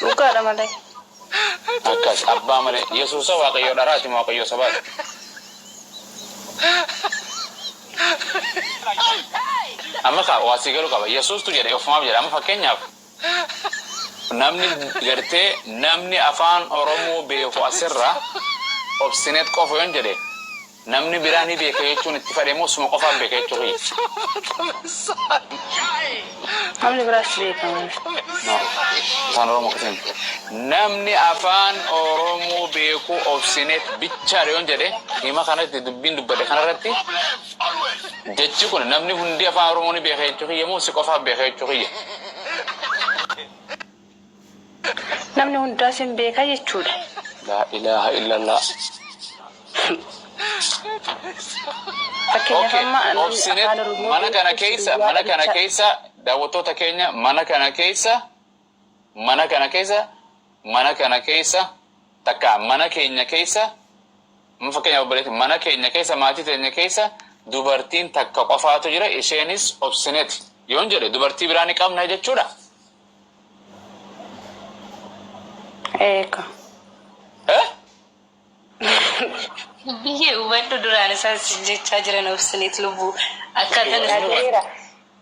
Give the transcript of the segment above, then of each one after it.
Dhugaadha malee. Akkas abbaa malee yesuusa waaqayyoo dharaati moo waaqayyoo sabaati? Amma kaa waa sii galu qaba yesuustu jedhe ofumaaf jedha amma fakkeenyaaf namni gartee namni afaan oromoo beeku asirra obsinet qofa yoon jedhe Namni biraa ni beeka jechuun itti fadhe moo suma qofaan beeka jechuu kiyya? Namni biraas ni beeka malee. Afaan Oromoo akkasii miti. Namni Afaan Oromoo beeku Obsineet bichaadha yoon jedhe hima kanatti dubbiin dubbadhe kanarratti jechi kun namni hundi Afaan Oromoo ni beeka jechuu kiyya moo si qofaan beeka jechuu kiyya? Namni hundaa sin beeka jechuudha. Laa ilaaha illallaah. Fakkeenyaaf amma namni Obsinet afaan Oromoo mana beeku kana keessa guyyaa mana kana dhalichaa keessa daawwattoota keenya mana kana keessa mana kana keessa mana kana keessa takka mana keenya keessa amma fakkeenyaaf obboleetti mana keenya keessa maatii teenya keessa dubartiin takka qofaatu jira isheenis obsineeti yoon jedhe dubartii biraa ni qabna jechuudha Eeka. Eh? Biyyee hubadhu duraan isaan sin jechaa jiran obsineet lubbuu akkaataan Ati isaan- gareera.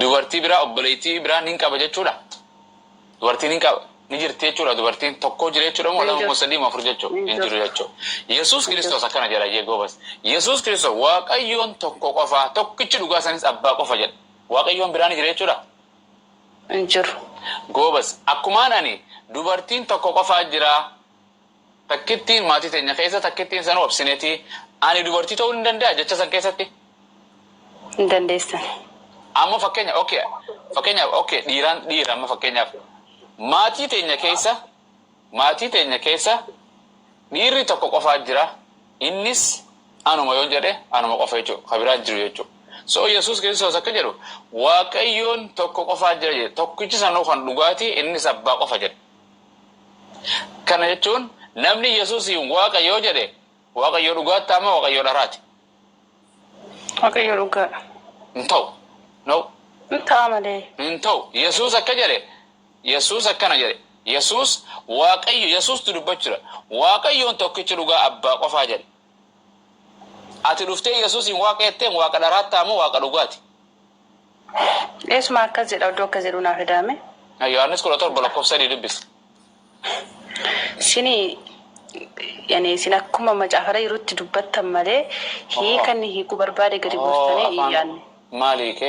dubartii biraa obboleettii biraa nin qaba jechuudha? Dubartiin hin qaba. Ni jirti jechuudha dubartiin tokko jira jechuudha moo lama moo sadii moo afur jechuudha? Hin jiru jechuudha. Yesuus Kiristoos akkana jedha jee goobas. Yesuus Kiristoos Waaqayyoon tokko qofa tokkichi dhugaa sanis abbaa qofa jedha. Waaqayyoon biraa ni jira jechuudha? Hin jiru. Goobas. Akkumaan ani dubartiin tokko qofaa jiraa? Takkittiin maatii teenya keessa takkittiin sanuu obsineti ani dubartii ta'uu ni danda'a jecha san keessatti? Hin dandeessan. Amma fakkeenya ok fakkeenyaaf ok dhiiraan dhiira amma fakkeenyaaf maatii teenya keessa maatii teenya keessa dhiirri tokko qofaa jira innis anuma yoon jedhe anuma qofa jechuu ka biraan jiru jechuu so yesuus kiristoos akka jedhu waaqayyoon tokko qofaa jira jedhe tokkichi sanuu kan dhugaati innis abbaa qofa jedhe Kana jechuun namni Yesuusiin Waaqa yoo jedhe Waaqayyo dhugaatti ta'a moo Waaqayyo dharaati? Waaqayyo dhugaadha. Hin ta'u. No. Hin ta'a malee. Hin ta'u. Yesuus akka jedhe Yesuus akkana jedhe Yesuus Waaqayyo Yesuustu dubbachuudha. Waaqayyoon tokkichi dhugaa abbaa qofaa jedhe. Ati dhuftee Yesuusiin Waaqa jetteen Waaqa dharaatti ta'a moo Waaqa dhugaati? Eesuma akkas jedha odduu akkas jedhuu naa fidaa mee. Yohaannis 17 lakkoofsa 3 dubbisi. Sini yani isin akkuma macaafara jirutti dubbattan malee hiika inni hiikuu barbaade gadi buustanii hin yaadne. Maal hiike?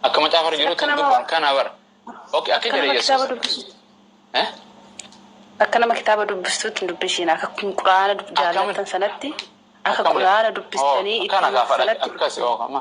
Akka macaafara jirutti hin dubban kana bara. Okay, akka jedhe Yesuus. Akka nama kitaaba dubbistuutti hin dubbisiin akka quraana jaallattan sanatti akka quraana dubbistanii itti sanatti. Akkasi ookama.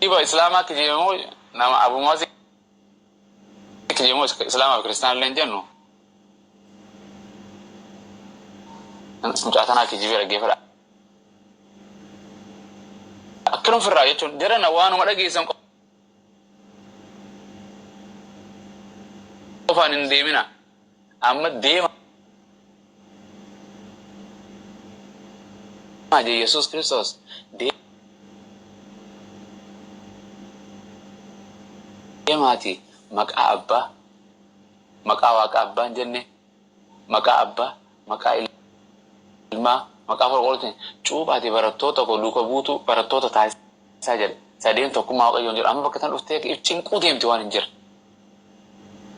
Ajiiba islaamaa kijibe moo nama abu muazi kijibe moo islaamaa fi kiristaana illee hin jennu mucaa tanaa kijibee dhaggeeffadha akkanum firraa jechuun jarana waanuma dhageessan qofaan hin deemina Amma deemaa je Yesuus Kiristoos deemaatii maqaa Abbaa, maqaa Waaqa Abbaa hin jenne, maqaa Abbaa, maqaa Ilmaa, maqaa Hafuura Qulqulluutiin cuuphaatii barattoota koo duuka buutuu barattoota taasisa. isaa jala sadeen tokkummaa waaqayyoon jedhu amma bakka tan dhuftee if cinquu deemti waan hin jirre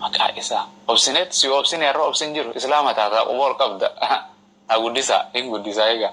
maqaa isaa obsineet si obsine irra obsin jiru islaama taataa quba ol qabda haa guddisaa hin guddisaa egaa